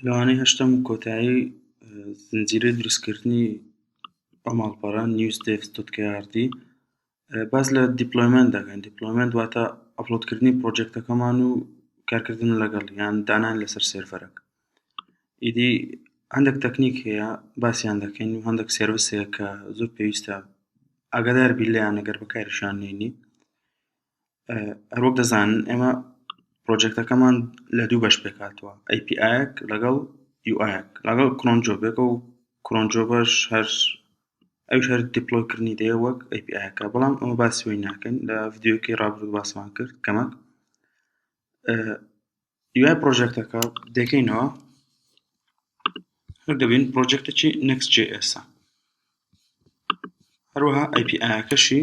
لەوانەیە هەشتەم و کۆتایی زنجیرەی دروستکردنی ئەو ماڵپەڕە نیوز دێسک دوت کێ ئار دی باس لە دیپلۆیمەنت دەکەن دیپلۆیمەنت واتە ئەپلۆدکردنی پرۆجێکتەکەمان و کارکردن لەگەڵ یان دانان لەسەر سێرڤەرێک ئیدی هەندێک تەکنیک هەیە باسییان دەکەین و هەندێک سێرڤیسێک کە زۆر پێویستە ئاگادار بی لێیان ئەگەر بەکاریشان نێنی هەروەک دەزانن ئێمە پرۆجێکتەکەمان لە دوو بەش پێک هاتووە ئەی پی ئایەک لەگەڵ یو ئایەک لەگەڵ کرۆن جۆبێک و کرۆن جۆبەش هەر ئەوش هەر دیپلۆیکردنی دەیە وەک ئەی پی ئایەکە بەڵام ئەمە باسی وی ناکەین لە ڤیدیۆکەی ڕابردوو باسمان کرد کەمەک دوای پرۆژێکتەکە دەکەینەوە هەر دەبین پرۆژێکتەکی نەکس جێ ئێسا هەروەها ئەی پی ئایەکەشی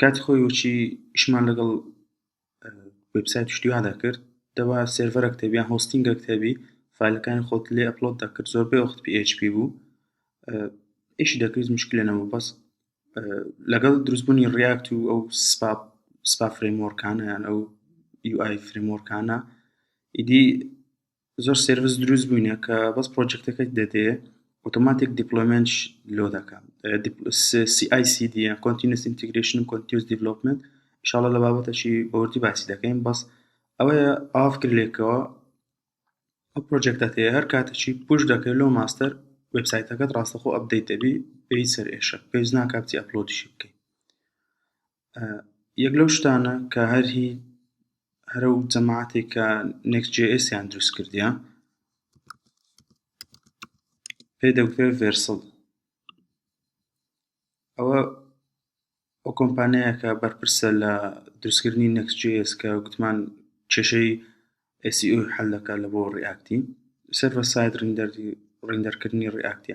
کاتی خۆی وەچی ئیشمان لەگەڵ وێبسایت و شتی وا دەکرد دەبا سێرڤەرێک هەبێ یان هۆستینگێک هەبێ فایلەکانی خۆت لێ ئەپلۆد دەکرد زۆربەی وەخت پی ئێچ پی بوو ئیشی دەکرد مشکلە نەبوو بەس لەگەڵ دروستبوونی ڕیاکت و ئەو سپاپ سپا فرێمۆرکانە یان ئەو یو ئای فرێمۆرکانە ئیدی زۆر سێرڤس دروست بووینە کە بەس پرۆجەکتەکەت دەدێ ئۆتۆماتیک دیپلۆیمێنتش لۆ دەکا سی ئای سی دی یان کۆنتینس ئینتیگرێشن و کۆنتیوس دیڤلۆپمنت ئیشاڵە لە بابەتەشی بەوردی باسی دەکەین بەس ئەوەیە ئاف کرد لێکەوە ئەو پرۆجەکتەت هەیە هەر کاتەچی پوش دەکەی لۆ ماستەر وێبسایتەکەت ڕاستەخۆ ئەپدەیت دەبی پێی سەر ئێشە پێویست ناکا بچی ئەپلۆدیشی بکەی یەک لەو شتانە کە هەر هی هەر ئەو جەماعەتێک کە نێکس جێ ئێسیان دروست کردیە پێی دەوترێ ڤێرسڵ ئەوە ئەو کۆمپانیایەکە بەرپرسە لە دروستکردنی نێکس جێ ئێس کە گوتمان کێشەی ئێسی ئەو حەل دەکات لە بۆ ڕیاکتی سەرڤە ساید ڕیندەر ڕیندەرکردنی ڕیاکتە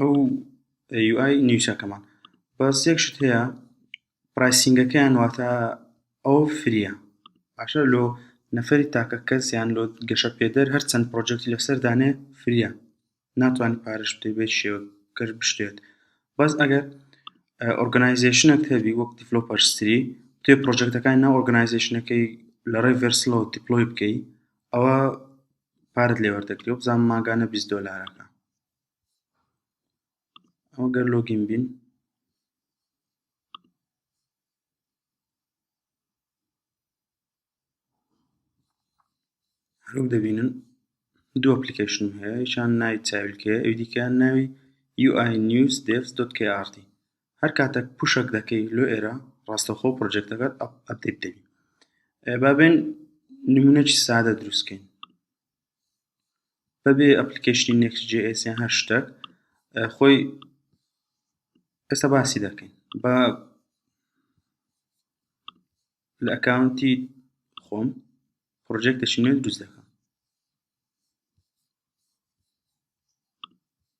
ئەو یو ئای نیوچەکەمان بەس یەک شت هەیە پرایسینگەکەیان واتە ئەو فریە باشە لۆ نەفەری تاکە کەس یان لۆ گەشە پێدەر هەر چەند پرۆجەکتی لەسەر دانێ فریە ناتوانی پارەش بدەی بە هیچ شێوەک گەر بشتێت بەس ئەگەر ئۆرگەنایزەیشنەک هەبی وەک دیڤلۆپەر ستری توێ پرۆجەکتەکانی ناو ئۆرگەنایزەیشنەکەی لە ڕێی ڤێرسلۆ دیپلۆی بکەی ئەوە پارەت لێ وەردەگری و بزانم ماگانە بیست دۆلارەکە ئەمە گەر لۆگین بین هەروک دەبینن دوو ئەپلیکیشن هەیە یشان ناوی چاویلکە ئەو دیکەیان ناوی UI News Devs KRT هەر کاتێک پوشک دەکەی لۆ ئێرە ڕاستەخۆ پرۆژێکتەکەت ئەپدەیت دەبی بابێن نمونەی سادە دروستکەین بەبێ ئەپلیکەیشنی نێکس جی ئێس یان هەر شتەک خۆی ئێستا باسی دەکەین با لە ئەکاونتی خۆم پڕۆژێکتێکی نوێ دروست دەکەم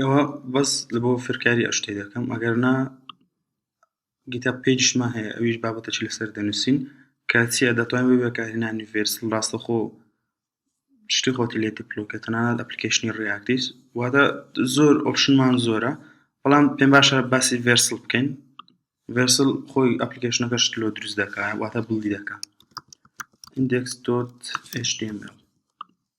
ئەوە بەس لە بۆ فێرکاری ئەو شتەی دەکەم ئەگەر نا گیتا پێجشمان هەیە ئەویش بابەتەی لەسەر دەنووسین کاتچیە دەتوان بێ بەکارهێنانی ڤێرس ڕاستەخۆ شتی خۆتی لێ دەپلۆکە تەنانەت ئەپلیکیشنی ڕیاکتیس واتە زۆر ئۆپشنمان زۆرە بەڵام پێم باشە باسی ڤێرسل بکەین ڤێرسل خۆی ئەپلیکیشنەکە شت لۆ دروست دەکات واتە بڵی دەکات index.html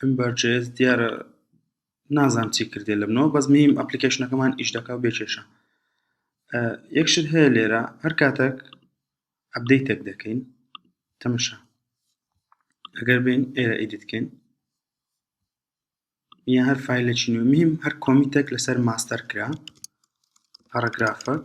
ئەم بارچەیەز دیارە نازانم چی کردێ لە منەوە بەس میم ئەپلیکیشنەکەمان ئیش دەکا و بێکێشە یەکشت هەیە لێرە هەر کاتێک ئەبدەیتێک دەکەین تەمەشا ئەگەر بین ئێرە ئیدیتکەین یا هەر فیلێکی نوێ میم هەر کۆمیتێک لەسەر ماستەر کرا پاراگرافەک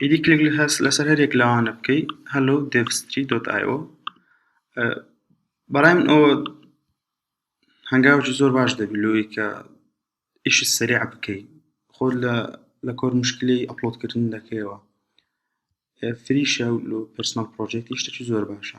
ئیدی کلیک لەسەر هەریەک لەوانە بکەی هەلو دێڤستری دۆت ئایۆ بەڕای من ئەوە هەنگاوی زۆر باش دەبی لۆی کە ئیشی سریع بکەی خۆ لە لە کۆر مشکلی ئەپلۆدکردن دەکەیەوە فریشە و پرسنل پرۆژێتی شتەکی زۆر باشە.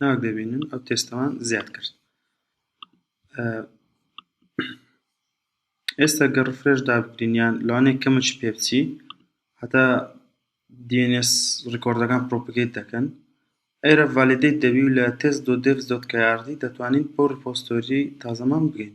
ناوک دەبینن ئەو تێستەوان زیاد کرد ئێستا گەڕ فرێش دابکرینیان لەوانێ کەمەش پێ بچی هەتا DNS ڕیکۆردەکان پرۆپگەیت دەکەن ئەرە ڤالیدەیت دەبی و لە تێست دۆ دێڤ دۆت کە یاردی دەتوانین بۆ ڕپۆستۆری تازەمان بگەین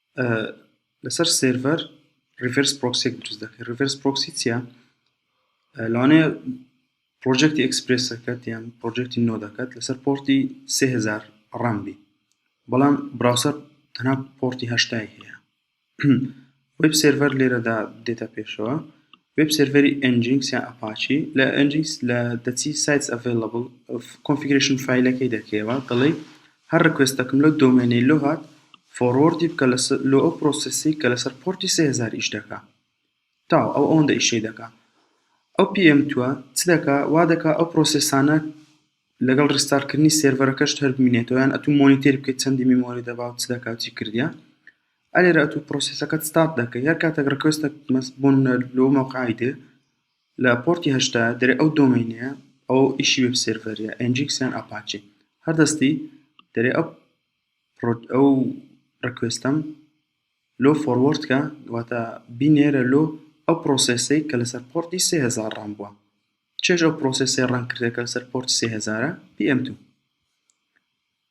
لەسەر سێرڤەر ریڤێرس پرۆکسێک دروست دەکەی ریڤێرس پرۆکسی چیە لەوانەیە پرۆژێکتی ئەکسپرسەکەت یان پرۆژێکتی نۆ دەکات لەسەر پۆرتی 3000 ڕام بی بەڵام براوسەر تەنها پۆرتی هەشتای هەیە وب سێرڤەر لێرەدا دێتە پێشەوە وێب سێرڤەری Nginx یان Apache لە Nginx لە دەچی Sites Available کۆنفیگرەیشن فایلەکەی دەکەیەوە دەڵێی هەر ڕکوێستەکم لەو دۆمێنەی لۆ هات فۆڕۆردی بکە لۆ ئەو پرۆسێسی کە لەسەر پۆرتی 3000 ئیش دەکا تاو ئەو ئەوەندە ئیشەی دەکا ئەو PM توە چ دەکا وا دەکا ئەو پرۆسێسانە لەگەڵ ڕستارکردنی سێرڤەرەکەشت هەر بمینێتەوە یان ئەتوو مۆنیتێر بکەیت چەندی میمۆری دەبا و چ دەکا و چی کردیە ئەرێ لە ئەتوو پرۆسیسەکەت ستارت دەکەی هەر کاتێک ڕکوێستەک مەس بۆن لۆ مەوقعی دێ لە پۆرتی هەشتا دەرێ ئەو دۆمەینەیە ئەو ئیشی وێب سێرڤەریە ئەنجیکس یان ئاپاچی هەر دەستی دەرێ ئەو ئەو ڕکوێستەم لۆ فۆروەرد کە واتە بینێرە لۆ ئەو پرۆسێسەی کە لەسەر پۆرتی سێ هەزار ڕام بووە چێژ ئەو پرۆسێسی ڕەنگ کردێکە لەسەر پۆرتی سێ هەزارە پی ئەم دوو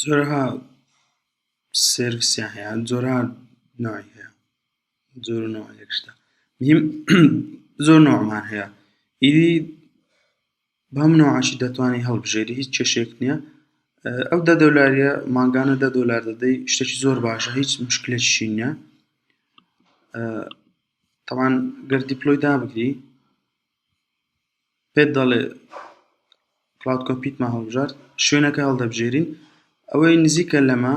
جۆرەها سێرڤیسیان هەیە جۆرەها ناوی هەیە جۆر و ناوی یەک شتە میم زۆر ناومان هەیە ئیدی بەم ناوەشی دەتوانین هەڵبژێری هیچ کێشەیەک نییە ئەو دە دۆلاریە مانگانە دە دۆلار دەدەی شتێکی زۆر باشە هیچ مشکلێکی نییە تاوان گەر دیپلۆیدا بکەی پێت دەڵێ کڵاود کۆمپیوتمان هەڵبژارد شوێنەکە هەڵدەبژێرین ئەوەی نزیکە لەمە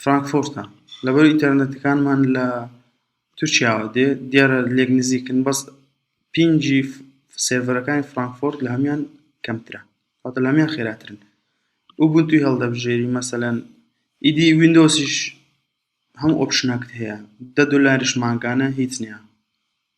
فرانکفۆرتە لەبەر ئینتەرنێتەکانمان لە تورکیاوە دێ دیارە لێک نزیکن بەس پینجی سێرڤەرەکانی فرانکفۆرت لە هەمان کەمترە واتە لە هەمان خێراترن ئوبونتوی هەڵدەبژێری مەسەلەن ئیدی ویندۆسیش هەم ئۆپشنەکت هەیە دە دۆلاریش مانگانە هیچ نییە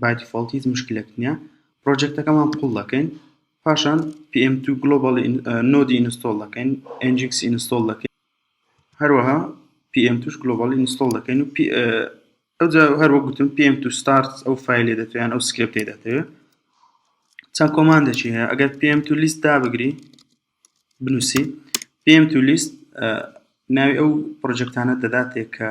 بای دیفۆڵت هیچ مشکلێک نییە پرۆجێکتەکەمان قوڵ دەکەین پاشان PM2 گلۆبال نۆدی ئینستۆڵ دەکەین ئەنجکس ئینستۆڵ دەکەین هەروەها PM توش گلۆبالی ئینستۆڵ دەکەین و ئەوجا هەروە گوتم PM تو ستارت ئەو فیلێ دەتوێن ئەو سکرپتی دەتەوێت چەند کۆمان دەچی هەیە ئەگەر PM تو لیست دا بگری بنووسی PM تو لیست ناوی ئەو پرۆجێکتانە دەداتێک کە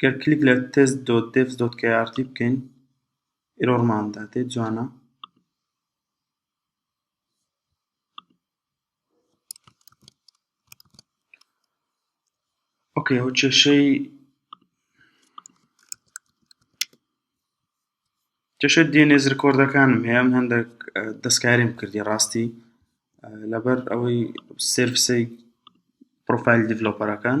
گەر کلیک لە تێست دۆت دێڤس دۆت کەی ئار تی بکەین ئیرۆرمان دادێ جوانە ئۆکەی ئەو کێشەی کێشە دێنێز ڕکۆردەکانم هەیە من هەندێک دەستکاریم کردی ڕاستی لەبەر ئەوەی سرفسەی پرۆفایل دیڤلۆپەرەکان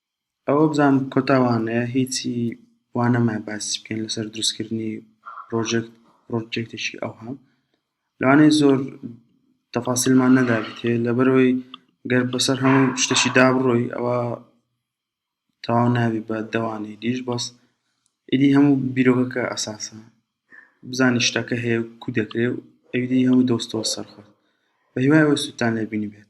ئەوە بزان کۆتا وانەیە هیچی وا نەما باسی بکەین لەسەر دروستکردنی پرۆژێکت پرۆجێکتێکی ئەوها لەوانەیە زۆر تەفاسیلمان نەدابێتێ لەبەرەوەی گەر بەسەر هەموو شتەکی دابڕۆی ئەوە تەواو نابی بە دەوانەی دیش بەس ئیدی هەموو بیرۆکەکە ئەساسە بزانی شتەکە هەیە و کو دەکرێ و ئەویدی هەموو دۆستەوە سەرخۆت بە هیوای ئەوە سوودتان لێبینی بێت